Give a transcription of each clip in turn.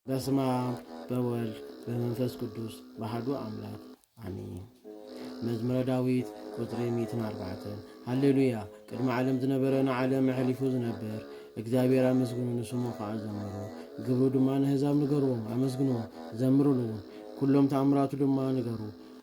በስመ አብ በወልድ በመንፈስ ቅዱስ ባህዱ አምላክ አሜን። መዝሙረ ዳዊት ቁፅሪ ሚእትን ኣርባዕተ ሃሌሉያ ቅድሚ ዓለም ዝነበረ ንዓለም ኣሕሊፉ ዝነበር እግዚኣብሔር ኣመስግኑ ንስሙ ከዓ ዘምሩ ግብሩ ድማ ንህዛብ ንገርዎም ኣመስግንዎ ዘምርሉ ኩሎም ተኣምራቱ ድማ ንገሩ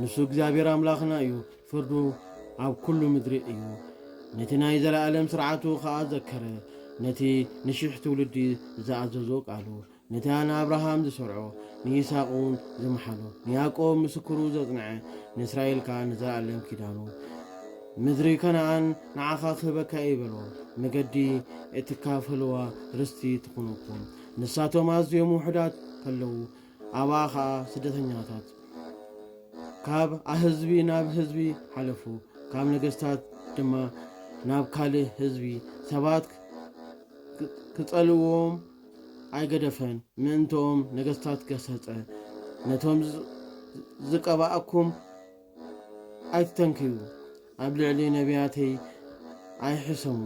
ንሱ እግዚኣብሔር ኣምላኽና እዩ፣ ፍርዱ ኣብ ኵሉ ምድሪ እዩ። ነቲ ናይ ዘለኣለም ሥርዓቱ ኸኣ ዘከረ፣ ነቲ ንሺሕ ትውልዲ ዝኣዘዞ ቃሉ፣ ነታ ንኣብርሃም ዝሠርዖ፣ ንይስሃቅውን ዝመሓሎ፣ ንያዕቆብ ምስክሩ ዘጽንዐ፣ ንእስራኤል ከኣ ንዘለኣለም ኪዳኑ። ምድሪ ከነኣን ንዓኻ ክህበካ እየ በሎ፣ መገዲ እትካፈልዋ ርስቲ ትኹነኩም። ንሳቶም ኣዝዮም ውሑዳት ከለዉ፣ ኣብኣ ኸኣ ስደተኛታት ካብ ኣህዝቢ ናብ ህዝቢ ሓለፉ፣ ካብ ነገስታት ድማ ናብ ካልእ ህዝቢ። ሰባት ክጸልእዎም ኣይገደፈን፣ ምእንትኦም ነገስታት ገሰጸ፣ ነቶም ዝቀብኣኩም። ኣይትተንክዩ፣ ኣብ ልዕሊ ነብያተይ ኣይሕሰሙ።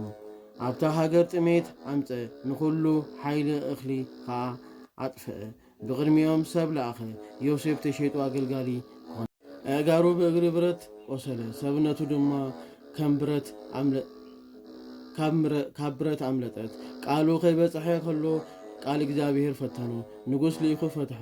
ኣብታ ሃገር ጥሜት ኣምጸ፣ ንዅሉ ሓይሊ እኽሊ ኸኣ ኣጥፍአ። ብቕድሚኦም ሰብ ለኣኸ፣ ዮሴፍ ተሸይጡ ኣገልጋሊ ኰነ። ኣእጋሩ ብእግሪ ብረት ቈሰለ፣ ሰብነቱ ድማ ከም ብረት ኣምለጠ። ካብ ብረት ኣምለጠት። ቃሉ ከይበጽሐ ከሎ ቃል እግዚኣብሄር ፈተኖ፣ ንጉስ ልኢኹ ፈትሖ።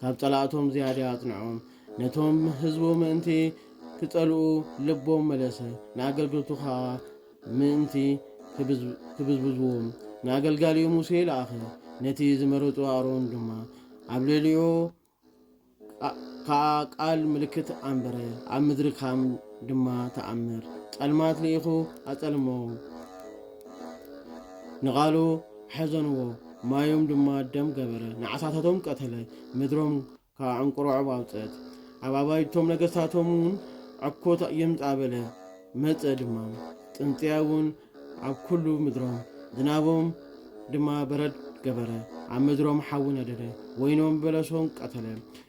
ካብ ጸላእቶም ዝያዳ ኣጽንዖም፣ ነቶም ህዝቡ ምእንቲ ኪጸልኡ ልቦም መለሰ፣ ንኣገልገልቱ ኸኣ ምእንቲ ኪብዝብዝዎም ንኣገልጋሊኡ ሙሴ ለኣኸ፣ ነቲ ዝመረጾ ኣሮን ድማ ኣብ ልዕሊኡ ከኣ ቃል ምልክት ኣንበረ፣ ኣብ ምድሪ ካም ድማ ተኣምር ጸልማት ልኢኹ ኣጸልሞም ንቓሉ ሐዘንዎ፣ ማዮም ድማ ደም ገበረ፣ ንዓሳታቶም ቀተለ፣ ምድሮም ከዓ እንቁሮዖብ ኣውፀት፣ ኣብ ኣባይቶም ነገስታቶምውን ዕኮት ይምፃ በለ፣ መፀ ድማ፣ ፅንፅያውን ኣብ ኩሉ ምድሮም፣ ዝናቦም ድማ በረድ ገበረ፣ ኣብ ምድሮም ሓዊ ነደደ፣ ወይኖም በለሶም ቀተለ፣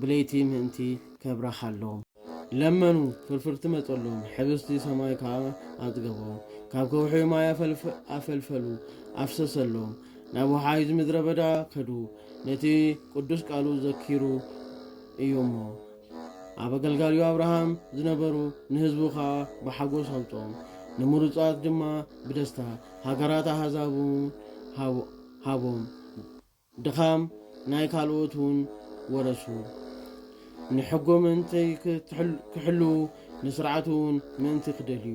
ብለይቲ ምእንቲ ከብራኻሎም ለመኑ፣ ፍርፍርቲ መጸሎም፣ ሕብስቲ ሰማይ ከኣ ኣጽገቦም። ካብ ከውሒ ማይ ኣፈልፈሉ፣ ኣፍሰሰሎም፣ ናብ ወሓይዝ ምድረ በዳ ከዱ። ነቲ ቅዱስ ቃሉ ዘኪሩ እዩ እሞ ኣብ ኣገልጋሊኡ ኣብርሃም ዝነበሩ ንህዝቡ ከኣ ብሓጎስ ኣምጾም፣ ንምሩጻት ድማ ብደስታ ሃገራት ኣሕዛቡ ሃቦም። ድኻም ናይ ካልኦት እውን ወረሱ። ንሕጎ ምእንቲ ኪሕልዉ፣ ንስርዓት እውን ምእንቲ ኪደልዩ።